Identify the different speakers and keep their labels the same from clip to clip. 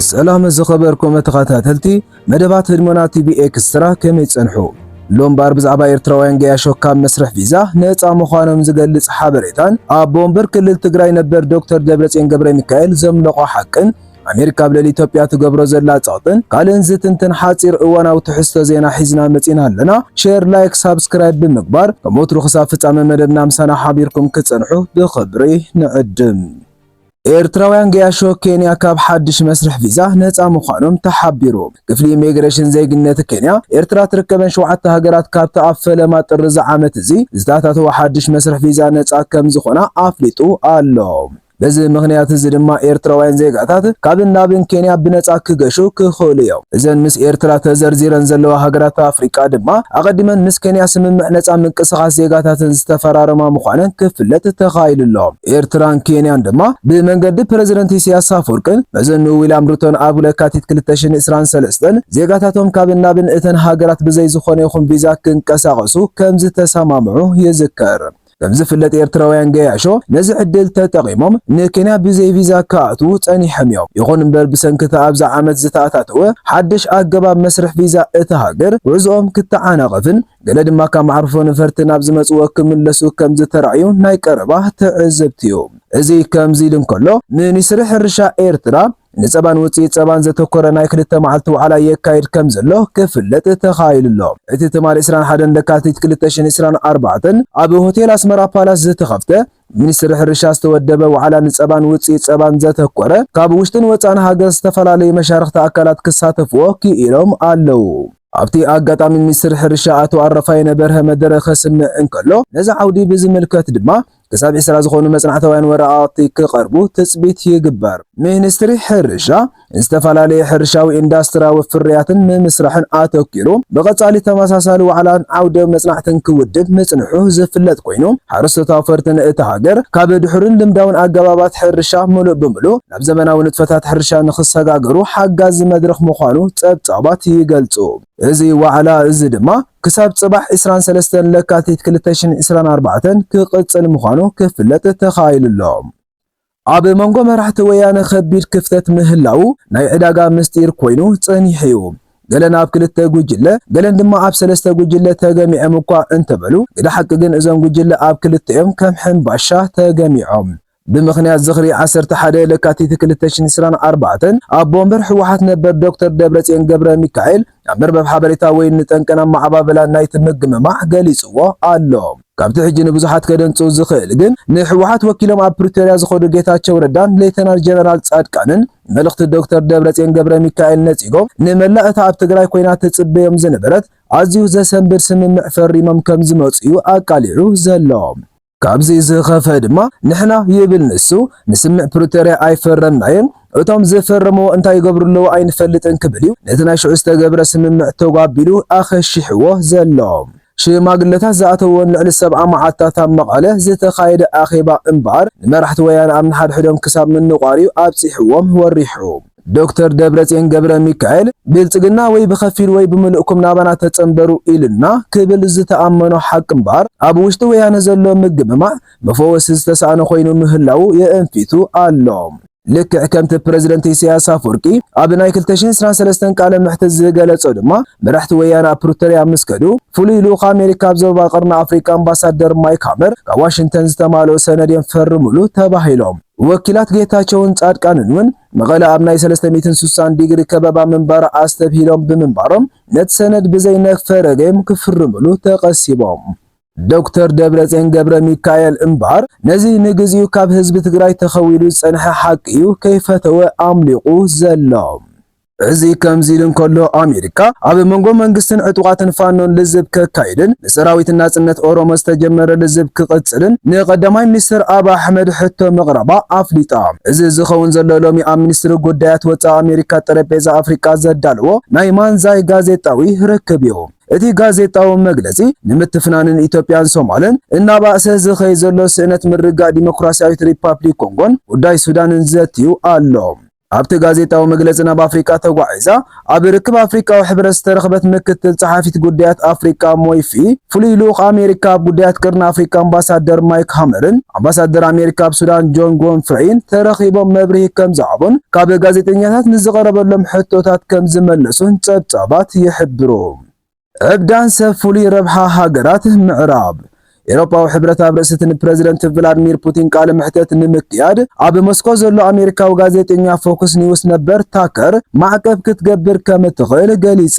Speaker 1: ሰላም ዝኸበርኩም ተኸታተልቲ መደባት ህድሞና ቲቪ ኤክስትራ ከመይ ጸንሑ? ሎምባር ብዛዕባ ኤርትራውያን ገያሾ ካብ መስርሕ ቪዛ ነፃ ምዃኖም ዝገልጽ ሓበሬታን ኣብ ቦምበር ክልል ትግራይ ነበር ዶክተር ደብረጽዮን ገብረ ሚካኤል ዘምለቖ ሓቅን ኣሜሪካ ኣብ ልዕሊ ኢትዮጵያ ትገብሮ ዘላ ጸቕጥን ካልእን ዝትንትን ሓጺር እዋናዊ ትሕዝቶ ዜና ሒዝና መጺና ኣለና። ሼር፣ ላይክ፣ ሳብስክራይብ ብምግባር ከም ወትሩ ክሳብ ፍጻመ መደብና ምሳና ሓቢርኩም ክጸንሑ ብኽብሪ ንዕድም። ኤርትራውያን ገያሾ ኬንያ ካብ ሓድሽ መስርሕ ቪዛ ነጻ ምዃኖም ተሓቢሩ። ክፍሊ ኢሚግሬሽን ዜግነት ኬንያ፣ ኤርትራ ትርከበን ሸውዓተ ሃገራት ካብቲ ኣብ ፈለማ ጥሪ'ዚ ዓመት'ዚ ዝተኣታተወ ሓድሽ መስርሕ ቪዛ ነጻ ከምዝኾና ኣፍሊጡ ኣሎ። በዚ ምኽንያት'ዚ ድማ ኤርትራውያን ዜጋታት ካብን ናብን ኬንያ ብነጻ ክገሹ ክኽእሉ'ዮም። እዘን ምስ ኤርትራ ተዘርዚረን ዘለዋ ሃገራት ኣፍሪቃ ድማ ኣቐዲመን ምስ ኬንያ ስምምዕ ነጻ ምንቅስቓስ ዜጋታተን ዝተፈራረማ ምዃነን ክፍለጥ ተኻኢሉ'ሎ። ኤርትራን ኬንያን ድማ ብመንገዲ ፕረዚደንት ኢሳያስ ኣፍወርቅን መዘንኡ ዊልያም ሩቶን ኣብ ለካቲት ክልተ ሽሕን ዕስራን ሰለስተን ዜጋታቶም ካብን ናብን እተን ሃገራት ብዘይ ዝኾነ ይኹን ቪዛ ክንቀሳቐሱ ከምዝተሰማምዑ ይዝከር። ከምዝፍለጥ ኤርትራውያን ገያሾ ነዚ ዕድል ተጠቒሞም ንኬንያ ብዘይ ቪዛ ክኣትዉ ጸኒሖም እዮም። ይኹን እምበር ብሰንኪ እቲ ኣብዚ ዓመት ዝተኣታተወ ሓድሽ ኣገባብ መስርሕ ቪዛ እታ ሃገር ጉዕዞኦም ክተዓናቐፍን፣ ገለ ድማ ካብ መዓርፎ ነፈርቲ ናብ ዝመጽዎ ክምለሱ ከም ዝተራእዩ ናይ ቀረባ ትዕዝብቲ'ዩ። እዚ ከምዚ ኢሉ እንከሎ፣ ሚኒስትሪ ሕርሻ ኤርትራ፣ ንጸባን ውጽኢት ጸባን ዘተኮረ ናይ ክልተ መዓልቲ ዋዕላ የካይድ ከም ዘሎ ክፍለጥ ተኻኢሉ ኣሎ። እቲ ትማሊ ዕስራን ሓደን ለካቲት ክልተ ሽሕን ዕስራን ኣርባዕተን ኣብ ሆቴል ኣስመራ ፓላስ ዝተኸፍተ፣ ሚኒስትሪ ሕርሻ ዝተወደበ ዋዕላ ንፀባን ውፅኢት ፀባን ዘተኮረ ካብ ውሽጥን ወፃእን ሃገር ዝተፈላለዩ መሻርኽቲ ኣካላት ክሳተፍዎ ክኢሎም ኣለው። ኣብቲ ኣጋጣሚ ሚኒስትር ሕርሻ ኣቶ ኣረፋይነ በርሀ መደረ ከስምዕ እንከሎ ነዚ ዓውዲ ብዝምልከት ድማ ክሳብ ዒስራ ዝኾኑ መፅናዕታውያን ወረቓቕቲ ክቐርቡ ትፅቢት ይግበር። ሚኒስትሪ ሕርሻ ዝተፈላለየ ሕርሻዊ ኢንዳስትራዊ ፍርያትን ምምስራሕን ኣተኲሩ ብቐጻሊ ተመሳሳሊ ዋዕላን ዓውደ መጽናዕትን ክውድብ ምጽንሑ ዝፍለጥ ኮይኑ፣ ሓረስቶት ኣውፈርቲ ንእታ ሃገር ካብ ድሑርን ልምዳውን ኣገባባት ሕርሻ ምሉእ ብምሉእ ናብ ዘመናዊ ንጥፈታት ሕርሻ ንኽሰጋገሩ ሓጋዚ መድረኽ ምዃኑ ጸብጻባት ይገልጹ። እዚ ዋዕላ እዚ ድማ ክሳብ ጽባሕ ዕስራን ሰለስተን ለካቲት ክልተ ሽሕን ዕስራን ኣርባዕተን ክቕጽል ምዃኑ ክፍለጥ ተኻኢሉ'ሎ። ኣብ መንጎ መራሕቲ ወያነ ከቢድ ክፍተት ምህላዉ ናይ ዕዳጋ ምስጢር ኮይኑ ጸኒሑ'ዩ። ገለን ኣብ ክልተ ጉጅለ፣ ገለን ድማ ኣብ ሰለስተ ጉጅለ ተገሚዖም እኳ እንተበሉ፣ ግደ ሓቂ ግን እዞም ጉጅለ ኣብ ክልተ'ዮም ከም ሕምባሻ ተገሚዖም። ብምኽንያት ዝኽሪ ዓሰርተ ሓደ ለካቲት ክልተ ሽሕን ዕስራን ኣርባዕተን ኣቦ ወንበር ህወሓት ነበር ዶክተር ደብረጽዮን ገብረሚካኤል፣ ናብ መርበብ ሓበሬታ ወይን ንጠንቅን ኣመዓባብላን ናይቲ ምግምማዕ ገሊጽዎ ኣሎ። ካብቲ ሕጂ ንብዙሓት ከደንጽው ዝኽእል ግን፣ ንህወሓት ወኪሎም ኣብ ፕሪቶርያ ዝኸዱ ጌታቸው ረዳን ሌተናል ጀነራል ጻድቃንን፣ ንመልእኽቲ ዶክተር ደብረጽዮን ገብረሚካኤል ነጺጎም፣ ንመላእ እታ ኣብ ትግራይ ኮይና ትጽበዮም ዝነበረት ኣዝዩ ዘሰንብድ ስምምዕ ፈሪሞም ከምዝመጹ'ዩ ኣቃሊዑ ዘሎ። ካብዚ ዝኸፍእ ድማ ንሕና ይብል ንሱ፣ ንስምምዕ ፕሪቶርያ ኣይፈረምናዮን፣ እቶም ዝፈረምዎ እንታይ ይገብሩ ኣለዉ ኣይንፈልጥን ክብል እዩ ነቲ ናይ ሽዑ ዝተገብረ ስምምዕ ተጓቢሉ ኣኸሺሕዎ ዘሎ። ሽማግለታት ዝኣተውዎን ልዕሊ ሰብዓ መዓልትታት ኣብ መቐለ ዝተኻየደ ኣኼባ እምበኣር ንመራሕቲ ወያነ ኣብ ንሓድሕዶም ክሳብ ምንቋር'ዩ ኣብጺሕዎም ወሪሑ። ዶክተር ደብረፅዮን ገብረሚካኤል ብልፅግና ወይ ብኸፊል ወይ ብምሉእኩም ናባና ተፀንበሩ ኢሉና ክብል ዝተኣመኖ ሓቂ እምበር ኣብ ውሽጢ ወያነ ዘሎ ምግምማዕ መፈወሲ ዝተሳእኖ ኮይኑ ምህላዉ የእንፊቱ ኣሎ። ልክዕ ከምቲ ፕረዚደንት ኢሳያስ ኣፍወርቂ ኣብ ናይ ክልተ ሽሕን ዕስራን ሰለስተን ቃለ መሕትት ዝገለፆ ድማ መራሕቲ ወያነ ኣብ ፕሪቶርያ ምስ ከዱ ፍሉይ ልኡኽ ኣሜሪካ ኣብ ዞባ ቀርኒ ኣፍሪቃ ኣምባሳደር ማይክ ሃመር ካብ ዋሽንግተን ዝተማልኡ ሰነድ እዮም ፈርምሉ ተባሂሎም ወኪላት ጌታቸውን ጻድቃንን እውን መቐለ ኣብ ናይ ሰለስተ ሚእትን ስሳን ዲግሪ ከበባ ምንባራ ኣስተብሂሎም ብምንባሮም ነቲ ሰነድ ብዘይ ነፈረገም ክፍርምሉ ተቐሲቦም። ዶክተር ደብረጼን ገብረሚካኤል እምባር ነዚ ንግዚኡ ካብ ህዝቢ ትግራይ ተኸዊሉ ዝጸንሐ ሓቂ'ዩ ከይፈተወ ኣምሊቑ ዘሎ። እዚ ከምዚ ኢሉ እንከሎ ኣሜሪካ ኣብ መንጎ መንግስትን ዕጡቓትን ፋኖን ልዝብ ከካይድን፣ ብሰራዊት ናጽነት ኦሮሞ ዝተጀመረ ልዝብ ክቕጽልን ንቀዳማይ ሚኒስተር ኣቢ ኣሕመድ ሕቶ ምቕራባ ኣፍሊጣ። እዚ ዝኸውን ዘሎ ሎሚ ኣብ ሚኒስትሪ ጉዳያት ወጻኢ ኣሜሪካ ጠረጴዛ ኣፍሪቃ ዘዳለዎ ናይ ማንዛይ ጋዜጣዊ ርክብ'ዩ። እቲ ጋዜጣዊ መግለጺ ንምትፍናንን ኢትዮጵያን ሶማልን እናባእሰ ዝኸይድ ዘሎ ስእነት ምርግጋእ ዲሞክራስያዊት ሪፓፕሊክ ኮንጎን ጉዳይ ሱዳንን ዘትዩ ኣሎ። ኣብቲ ጋዜጣዊ መግለጺ ናብ ኣፍሪቃ ተጓዒዛ ኣብ ርክብ ኣፍሪቃዊ ሕብረት ዝተረኽበት ምክትል ጸሓፊት ጉዳያት ኣፍሪቃ ሞይፊ፣ ፍሉይ ልኡኽ ኣሜሪካ ኣብ ጉዳያት ቀርኒ ኣፍሪቃ ኣምባሳደር ማይክ ሃመርን ኣምባሳደር ኣሜሪካ ኣብ ሱዳን ጆን ጎንፍሬይን ተረኺቦም መብርሂ ከምዝሃቡን ካብ ጋዜጠኛታት ንዝቐረበሎም ሕቶታት ከምዝመለሱን ጸብጻባት ይሕብሩ። ዕብዳን ሰብ ፍሉይ ረብሓ ሃገራት ምዕራብ። ኤውሮጳዊ ሕብረት ኣብ ርእሲ'ቲ ንፕረዚደንት ቭላድሚር ፑቲን ቃለ መሕተት ንምክያድ ኣብ ሞስኮ ዘሎ ኣሜሪካዊ ጋዜጠኛ ፎክስ ኒውስ ነበር ታከር ማዕቀብ ክትገብር ከም እትኽእል ገሊጻ።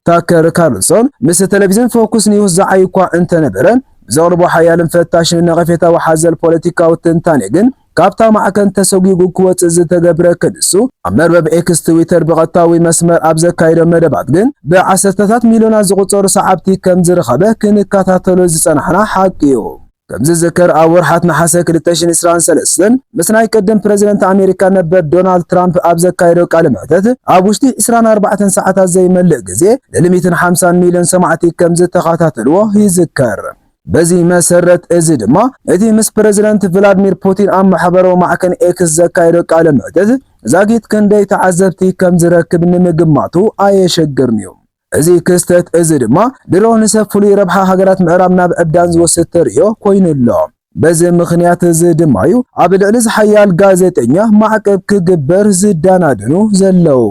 Speaker 1: ታከር ካርልሶን ምስ ተለቪዝን ፎክስ ኒውስ ዝዓዪ'ኳ እንተነበረ፣ ብዘቕርቦ ሓያልን ፈታሽን ነቐፌታዊ ሓዘል ፖለቲካዊ ትንታኔ ግን ካብታ ማዕከን ተሰጒጉ ክወጽእ ዝተገብረ ክንሱ፣ ኣብ መርበብ ኤክስ፣ ትዊተር፣ ብቐጥታዊ መስመር ኣብ ዘካይዶ መደባት ግን ብዓሰርተታት ሚልዮናት ዝቑጸሩ ሰዓብቲ ከም ዝረኸበ ክንከታተሎ ዝጸናሕና ሓቂ'ዩ። ከም ዝዝከር ኣብ ወርሓት ነሓሰ ክልተ ሽሕን ዕስራን ሰለስተን ምስ ናይ ቅድም ፕረዚደንት ኣሜሪካ ነበር ዶናልድ ትራምፕ ኣብ ዘካየዶ ቃለ መሕተት ኣብ ውሽጢ ዕስራን ኣርባዕተን ሰዓታት ዘይመልእ ግዜ ንልሚትን ሓምሳን ሚልዮን ሰማዕቲ ከም ዝተኸታተልዎ ይዝከር። በዚ መሰረት እዚ ድማ እቲ ምስ ፕረዚደንት ቭላድሚር ፑቲን ኣብ ማሕበራዊ ማዕከን ኤክስ ዘካየዶ ቃለ መሕትት ዛጊት ክንደይ ተዓዘብቲ ከም ዝረክብ ንምግማቱ ኣየሸግርን'ዩ። እዚ ክስተት እዚ ድማ ድሮ ንሰብ ፍሉይ ረብሓ ሃገራት ምዕራብ ናብ ዕብዳን ዝወስድ ተርእዮ ኮይኑ ኣሎ። በዚ ምኽንያት እዚ ድማ'ዩ ኣብ ልዕሊ እዚ ሓያል ጋዜጠኛ ማዕቀብ ክግበር ዝደናደኑ ዘለዉ።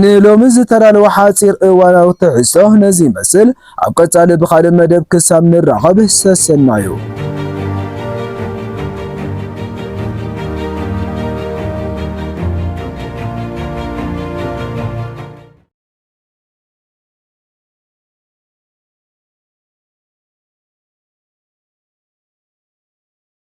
Speaker 1: ንሎሚ ዝተዳለወ ሓጺር እዋናዊ ትሕዝቶ ነዚ ይመስል። ኣብ ቀጻሊ ብኻልእ መደብ ክሳብ ንራኸብ ሰሰናዩ።